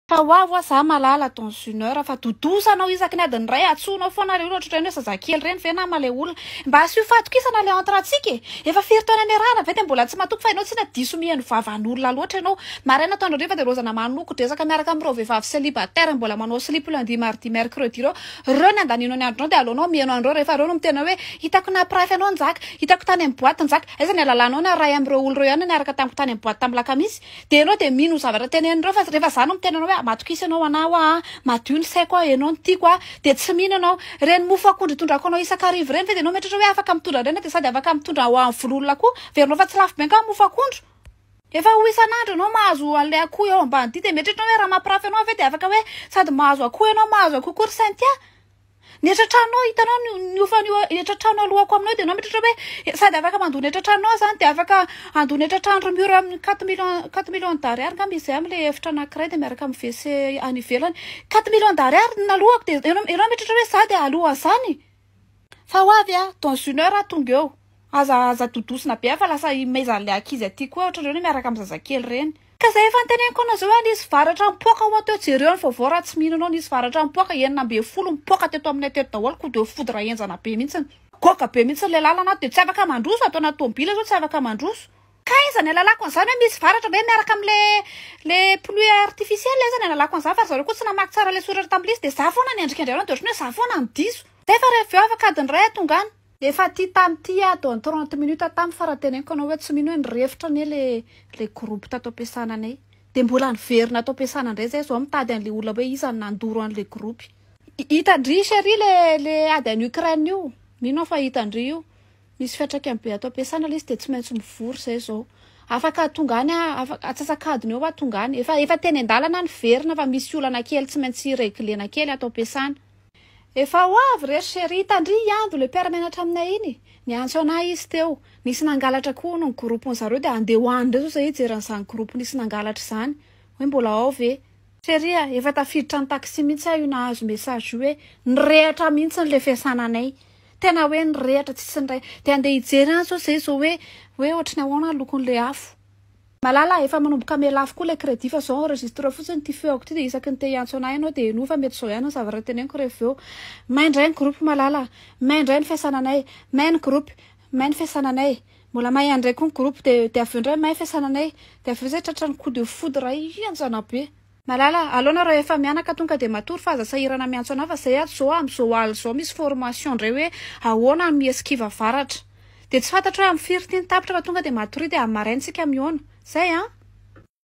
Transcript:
Fa ho avy hoa za malala dans une heure fa dodosa anao isaky ny adiny iray atsohinao foana le olona ohatrany hoe zazakely reny ve nama le olona mba asio fahatokisana le entre antsika e efa firy taona niarahana ve de mbola tsy matoky fa enao tsinona diso miheno vavan'olona loatra enao maraina atoandro hariva de rozana manoko dresaka miaraka amreo vehivavy celibataire mbola manao silipo lundi mardi mercredi reo reo ny andanianao ny andronao de aleonao miheno anreo refa reo no miteny hoe hitako nampirafy anao njaka hitako tany am boite njaka aiza ny alalanao niarahy amreo olona reo ihany no niaraka tamiko tany am boite tam lakamisy Dia ianao dia mino zavatra tenenindreo fa rehefa za no miteny anao hoe matokisa ianao ho anah hoa a, madio ny saiko hoa ianao no tiako hoa, dia tsy mino ianao. Ireny mofo akondro itondrako anao isak'arivo ireny ve dia ianao mieritreritra hoe afaka mitondra an'ireny dia sady afaka mitondra ho an'ny vono olona koa? Heverinao fa tsy lafo be angaha ny mofo akondro? Efa ho isan'andro ianao mahazo an'ilay akoho eo ambanidia dia mieritreritra ianao hoe raha mampirafy anao ve dia afaka hoe sady mahazo akoho ianao mahazo akoho koa ry Cynthia? Ny etra tranonao hitanao ny ny hofan'io etra trano alohako aminao dia ianao mitratra hoe eh, sady afaka mandoa ny etra tranonao zany dia afaka handoa ny etra trano ry mur amin'ny quatre millions quatre millions d'ariary ngamba izy amin'ny ilay efitra anankiray dia miaraka amin'ny WC any ivelany quatre millions d'ariary ny nalohako dia ianao ianao mitratra hoe za dia aloha an'izany fa ho avy aho dans une heure aho tonga eo Aza aza dodosina be ah fa lasa imezan'ilay ankizy aty koa ohatran'ireo ny miaraka amin'ny zazakely ireny. Ka zay efa niteneniko anao zay hoe nisy varatra nipoaka hoa teo jereo ny vaovao raha tsy mino anao nisy varatra nipoaka enina ambin'ny folo nipoaka teto aminay teto daholo ko de foudre henjana be mihitsiny. Goga be mihitsy ilay lalana ato dia tsy afaka mandroso ato anaty tomobila zao tsy afaka mandroso. Kay iza ny alalako an'izany hoe misy varatra ve miaraka amle le pluie artificielle iza ny alalako an'izany fa ry zareo koa tsy namaky tsara le soratra tam'le izy de za foana ny andrika indray andro de ohatran'ny hoe za foana no diso. Zay fa rehefa avy eo avakadiny iray atonga any. Efa ty tam ty aho dans trente minutes tam fa raha teneniko anao hoe tsy mino hoe nirefotra anie le le groupe tato ampiasana anay de mbola niverina ato ampiasana ndray zay zao mitady anle olona hoe iza no nandoro anle groupe. Hitandry chérie le le ady any Ukraine io mino aho fa hitandry io misy fiatraikany be ato ampiasana le izy de tsy maintsy mivory zay zao afaka tonga any afaka atsasakadiny eo aho tonga any efa efa teny andalana niverina fa misy olana kely tsy maintsy reglena kely ato ampiasana. Efa ho avy re ry Cherie, tandria i Ando, ilay mpiara-mianatra aminay iny. Niantso anà izy teo. Nisy nangalatra koa hono ny groupe-ny zareo dia handeha ho any indray izao izahay hijery an'izany groupe nisy nangalatra izany. Hoe mbola ao ve. Cherie a, efa tafiditra ny taxi mihitsy aho io nahazo message io hoe nirehatra mihitsy ilay fiasana anay. Tena hoe nirehatra tsisy niray. Dia handeha hijery any izao izahay izao hoe hoe ohatry ny ahoana ny lokon'ilay afo. Malala, efa manomboka hamela afo koa ilay crédit fa izao enregistre fotsiny ity feoko ity dia isaky ny te hiantso anah ianao dia henoy fa mety izao ihany ny zavatra teneniko rehefa avy eo. May indray ny groupe Malala a! May indray ny fiasananay! May ny groupe! May ny fiasananay! Mbola may ihany indray koa ny groupe dia dia avy eo indray may fiasananay! Dia avy eo izay tratran'ny coup de foudre ianjanabe! Malala, aleo nareo rehefa mianaka tonga dia matory fa aza sahirana miantso anah fa zay ato zao am zao aly zao misy formation ndray hoe ahoana am Eskiva avaratra. Dia tsy fantatro hoe am firy ty ny tapitra fa tonga dia matoria dia am maraina tsika mihaona. Zay an!